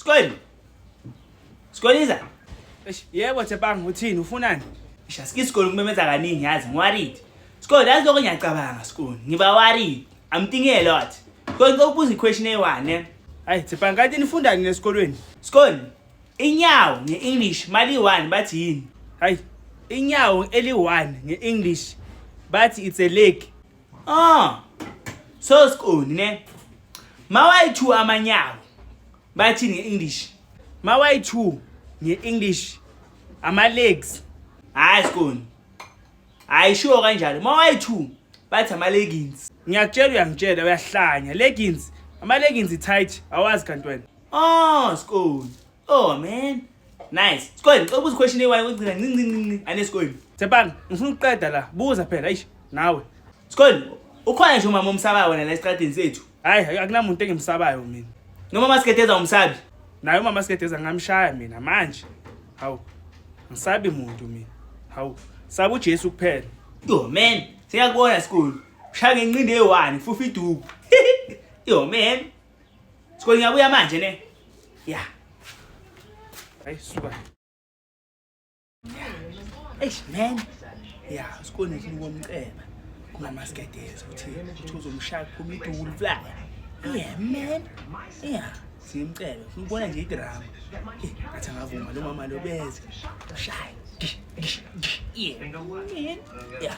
Sikweli. Sikweliza. Eish, yebo Thebanga uthini ufunani? Isha sike isikole kumemeza kaningi yazi ngiworried. Sikweli yazi lokho ngiyacabanga sikweli. Ngiba worried. I'm thinking a lot. Kodwa ngicela ukubuza i-question eyi-one ne. Hayi Thebanga kanti nifundani nesikolweni? Sikweli Inyawo nge-English maliyi-one bathi yini? Hayi, inyawo eli-one nge-English bathi it's a leg. Ah, so sikoni ne. Mawayi-two amanyawo bathi nge-English. Mawayi-two nge-English ama-legs. Hayi sikoni. Hayi sure kanjalo. Mawayi-two bathi ama-leggings. Ngiyakutshela uyangitshela uyahlanya. Leggings, ama-leggings i-tight awazi kanti wena. Oh, school. Oh man. Nice. School, ngicela ukubuza question ewayo ukugcina ncinci ncinci. Ane school. Tsepang, ngifuna ukuqeda la. Buza phela, eish, nawe. School, ukhona nje umama omsabayo wena la estradini sethu. Hayi, akunamuntu engimsabayo mina. Noma masiketeza umsabi. Naye umama masiketeza ngamshaya mina manje. Hawu. Ngisabi muntu mina. Hawu. Sabu Jesu kuphela. Yo man, siyakubona school. Ushaya ngenqindi eyi-1, fufa iduku. Yo man. Siko ngiyabuya manje ne. Ya. Hey suka. Eish man. Ya, siko nje ngomceba. Kuma maskedeza uthi uthi uzomshaya phuma idulu fly. Yeah man. Yeah. Simcebe. Ngibona nje idrama. Eh, athi ngavuma lo mama lo beze. Shaya. Yeah. Yeah.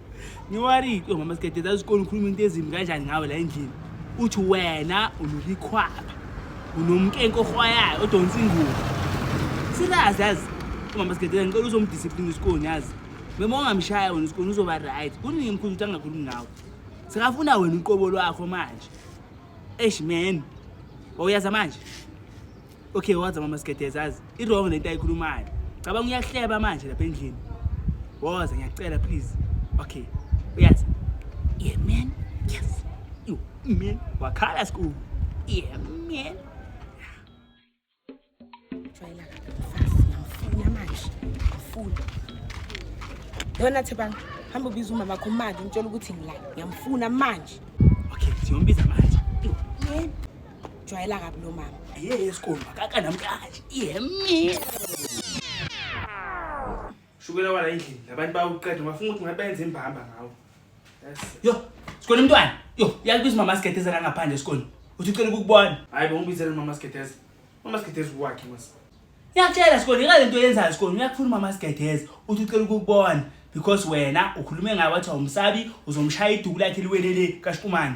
ngiwarike omama sigede zaziqona ukhuluma into ezimbi kanjani ngawe la endlini uthi wena unulikhwaba unomkenke ohwayayo odonsa ingubo sirazi yazi umama sigede ngicela uzomdiscipline usikoni yazi mema ongamshaya wena usikoni uzoba right kuningi mkhulu ukuthi angakhulumi ngawe sekafuna wena uqobo lwakho manje eish man wawuyaza manje okay waza mama sigedeza azi i-wrong lento ayikhulumayo cabanga uyahleba manje lapha endlini woza ngiyacela please okay uyazi yeah man yes you man wakhala school yeah man jwayela fast ngiyamfuna manje ngifuna yona thebanga hamba ubiza umama wakho manje umtshela ukuthi ngila ngiyamfuna manje okay siyombiza manje jwayela kabi lo mama ye esikhulu makaka namkaji yemi shukela wala endlini labantu bawuqeda ungafuna ukuthi ngabenze imbamba ngawo yo sikhona umntwana yo yazi kuthi mama sigedeza la ngaphandle esikhona uthi ucela ukukubona hayi bongibizela mama sigedeza mama sigedeza ukwakhe mase ngiyakutshela sikhona ika lento yenzayo sikhona uyakufuna umama sigedeza uthi ucela ukukubona because wena ukhulume ngayo wathi awumsabi uzomushaya iduku lakhe liwelele kashkumane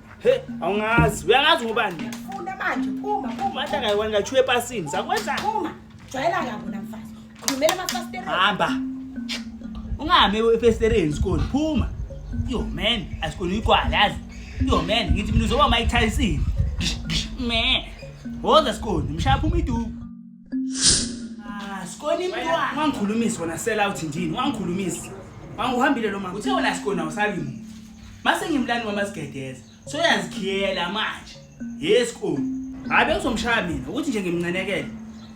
He, awungazi. Uyangazi ngobani? Funda manje, phuma, phuma. Manje akayiwani kathi epasini. Sakwenza. Phuma. Jwayela kabi wena mfazi. Khulumela amafasitela. Hamba. Ungahambe efestereni sikole. Phuma. Yo man, asikole igwala yazi. Yo man, ngithi mina uzoba Mike Tyson. Me. Woza sikole, mshaya phuma iduku. Ah, Skoni mntwana. Wangikhulumisa wena sell out ndini, wangikhulumisa. Wangihambile lo mama. Uthe wena Skoni awusabi muntu. Mase ngimlani wama sigedeza. So uyazikhiyela manje. Yes Skoni. Hayi bengizomshaya mina ukuthi nje ngimncenekele.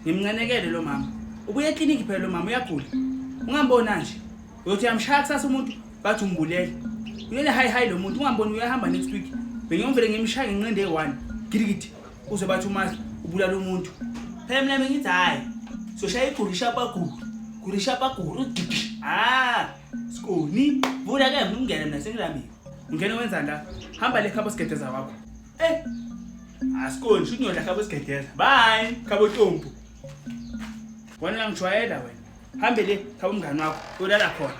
Ngimncenekele lo mama. Ubuye eclinic phela lo mama uyagula. Ungambona nje. Uyothi uyamshaya kusasa umuntu bathi umbulele. Uyele hi hi lo muntu ungamboni uyahamba next week. Bengiyomvele ngimshaya ngenqindi eyi-1. Girigidi. uzwe bathi umazi ubulala umuntu phela mina bengithi hhayi soshaya igurisha bagulu gurisha bagulu ah skoni vula ke ngingene mina sengilambile ungena wenzani la hamba le khabo sigedeza wakho eh asikoni shuthi ngiyola khabo sigedeza bye khabo tompu wena ngijwayela wena hambe le khabo mngani wakho uyolala khona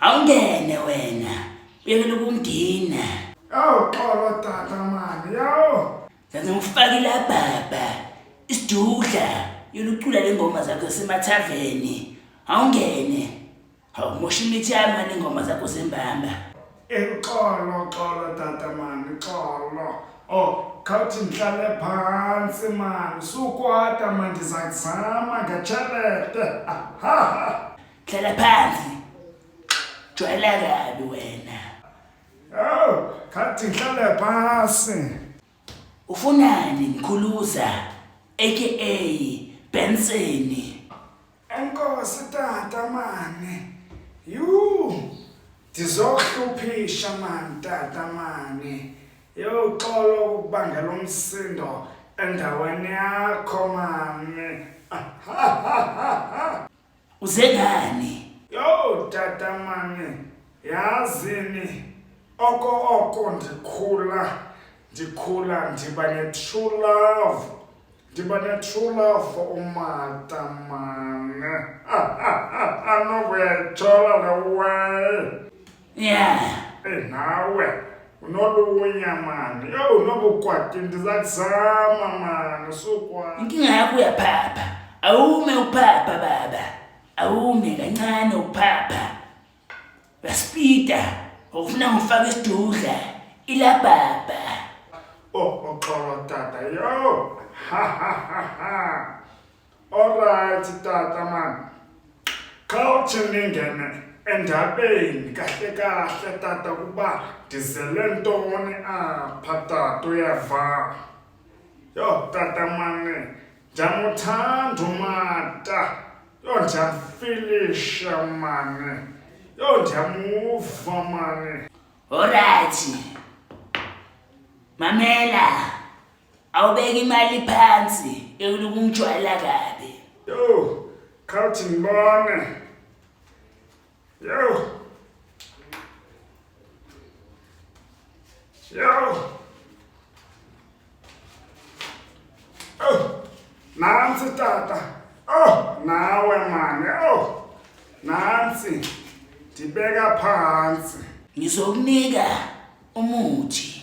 awungene wena uyekela ukungina awuxolo tata mani yawo senze ngifakile ababa isidudla yolucula le ngoma zakho semathaveni awungene Awumusha imithi yami mani ingoma zakho zembamba. Ixolo xolo tata mani xolo. Oh, khawuthi ndihlale phantsi mani sukwata mani ndiza kuzama ngetshelete. Aha. Hlala phansi. Jwayela kabi wena. Yho, khathi ndihlale phantsi. Ufunani Mkhuluza aka Benseni? Enkosi tata mani. Yuu. Ndizohluphisha mani tata mani. Yho xolo ukubangela umsindo endaweni yakho mani. uze ngani yo tata mami yazini oko oko ndikhula ndikhula ndiba ne-true love ndiba ne-true love for umata mane anokuyayijola le way Yeah. Eh nawe unolunya mani. Yo unobukwati ndizakuzama mani sukwa. Inkinga yakho uyaphapha. Awume uphapha baba. Awume kancane uphapha. Baspita. Ufuna ngifake isidudla. Ila baba. Oh uxolo tata yo. Ha ha ha ha. Alright tata man. Khawuthi ningene endabeni kahle kahle tata ukuba ndizele ntoni apha tata uyeva. Yho tata mane ndiyamuthanda umata. Yho ndiyamfilisha mane. Yho ndiyamuva mane. Alright. Mamela. Awubeki imali phansi ekunuka umjwala kabi. Yo, khawuthi ngibone. Yo. Yo. Oh, nansi tata. Oh, nawe mani. Oh, nansi. Ndibeka phansi. Ngizokunika umuthi.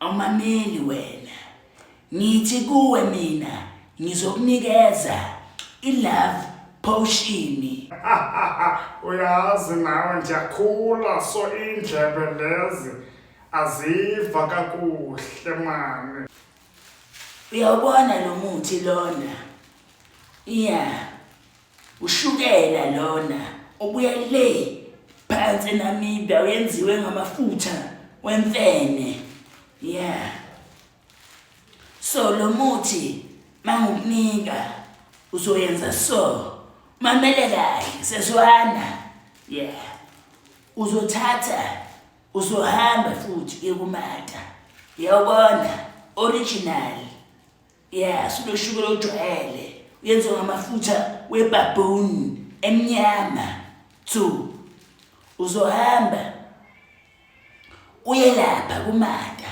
Awumameli wena. Ngithi kuwe mina ngizokunikeza ilove potion. Uyazi nawe ngiyakhula so indlebe lezi aziva kakuhle mani. Uyawubona lo muthi lona? Yeah. Ushukela lona obuya le phansi eNamibia uyenziwe ngamafutha wemfene. Yeah. So lo muthi mangukunika uzoyenza so. Mamele kahle seswana. Yeah. Uzothatha uzohamba futhi ekumata. Yawubona original. Yes, unoshukela ojwayele. Uyenziwa ngamafutha webaboon emnyama. Two. Uzohamba uye lapha kumata.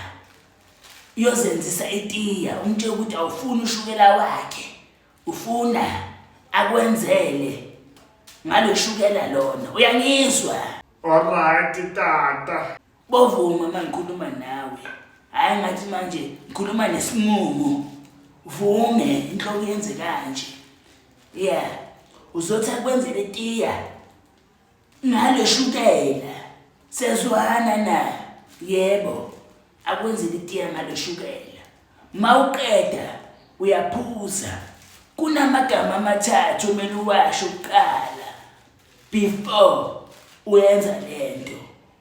Uyozenzisa itiya, umtshela ukuthi awufuni ushukela wakhe. Ufuna akwenzele ngaloshukela lona. Uyangizwa? Alright tata. Bovuma uma ngikhuluma nawe hhayi ngathi manje ngikhuluma nesimumu vume inhloko yenze kanje ya uzothi akwenzele tiya ngale shukela sezwana na yebo akwenzele itiya ngale shukela ma uqeda uyaphuza kunamagama amathathu omele uwasho kuqala before uyenza le nto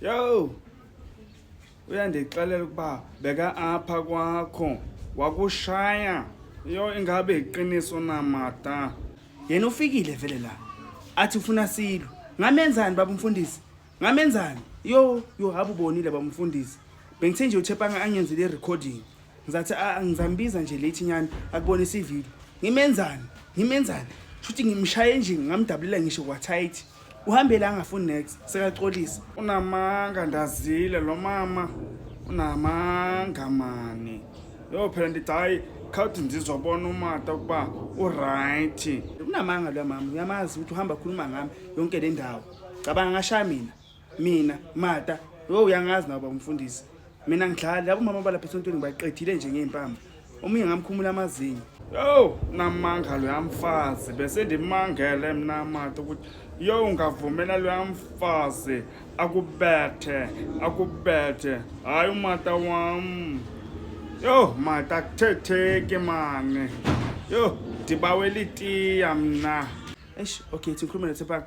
Yo! Uyandixelela ukuba beka apha kwakho wakushaya. Yo ingabe iqiniso na mata? Yena ufikile vele la. Athi ufuna silo. Ngamenzani baba umfundisi? Ngamenzani? Yo, yo haba ubonile baba umfundisi. Bengithe nje uThepanga angenzile i-recording. ngizathi ah, ngizambiza nje late nyani akubonisa ivideo ngimenzani ngimenzani shuthi ngimshaye nje ngamdabulela ngisho kwathayithi uhambele angafuni next sekaxolisa unamanga ndazile lo mama unamanga mani yo phela ndithi hayi khawuthi ndizobona umata ukuba uright unamanga lo mama uyamazi ukuthi uhamba khuluma ngami yonke le ndawo cabanga ngashaya mina mina mata yo uyangazi nabo umfundisi mina ngidlali labo mama balapha esontweni ngibaqedile nje ngey'mpama omunye ngamkhumula amazinyo yo namanga loya mfazi bese ndimangele mna mata ukuthi yo ungavumela loya mfazi akubethe akubethe hayi umata wam yo mata akuthetheki mane yo ndibawela itiya mna eish okay thikhulumele thepanga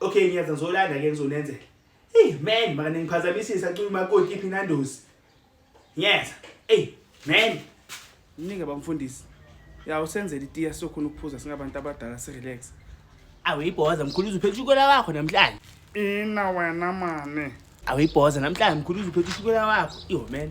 okay ngiyaza ngizolanda ke ngizonenzela hey man maka ningiphazamisisa cula umakoti iphi nandosi ngiyaza hey man mningi abamfundisi ya usenzela itiya sokhona ukuphuza singabantu abadala sirelax awuyibhoza mkhulu uzuphetha ushukela wakho namhlanje ina wena mane awuyibhoza namhlanje mkhulu uzuphetha ushukela wakho yo man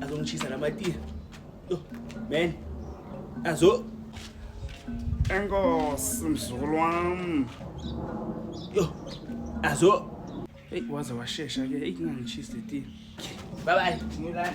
Azongishisa la matiya. Yo, man. Azo. Enkosi mzukulu wami. Yo. Azo. Hey, waze washesha ke. Hey, kungangishisi letiya. Bye bye. Ngilana.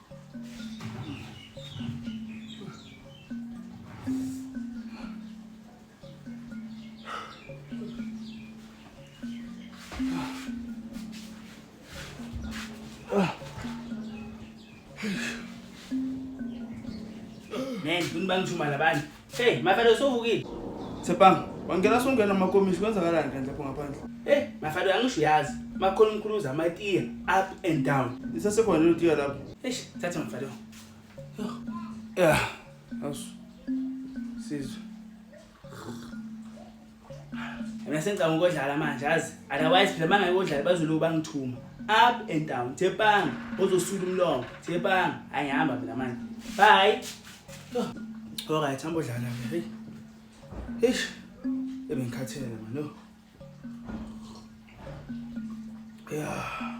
Man, ngibani ushuma labani? Hey, mafana usuvukile. Sepang, wangena songena makomishi kwenzakalani kanti lapho ngaphandle? Hey, mafana angisho uyazi. Makhona umkhuluza amatiya up and down. Isasekhona lelo tiya lapho. Eish, thatha mfana. Yo. Yeah. Asu. Sizwe. mina sengicanga ukodlala manje azi otherwise phela mangaye kodlala bazoloku bangithuma up and down thepanga ozosula umlongo thepanga ayihamba mina manje bye all right hamba odlala ke hey eish ebengikhathele manje no yeah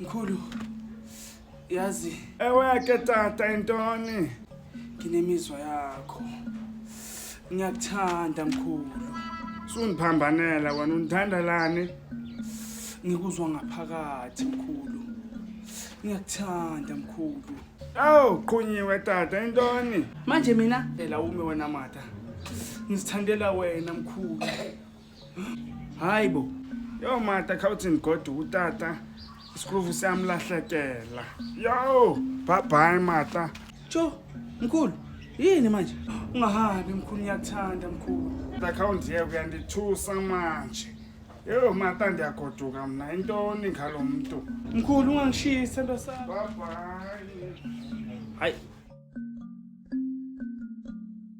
Mkhulu, yazi Eweke tata intoni? nginemizwa yakho. Ngiyakuthanda mkhulu. Sundiphambanela wena undithandelani? Ngikuzwa ngaphakathi mkhulu. Ngiyakuthanda mkhulu. Awu qhunyiwe tata intoni? Manje mina phela ume wena mata. Ngisithandela wena mkhulu. hayi bo yo mata khawuthini godu utata isikruvu siyamlahlekela yo bhabhayi mata tsho mkhulu yini manje ungahambi mkhulu ngiyakuthanda mkhulu akhawundiye kuyandithusa manje yo mata ndiyagoduka mna intoni ngalo mntu mkhulu ungangishisa nto sam bhabhayi hayi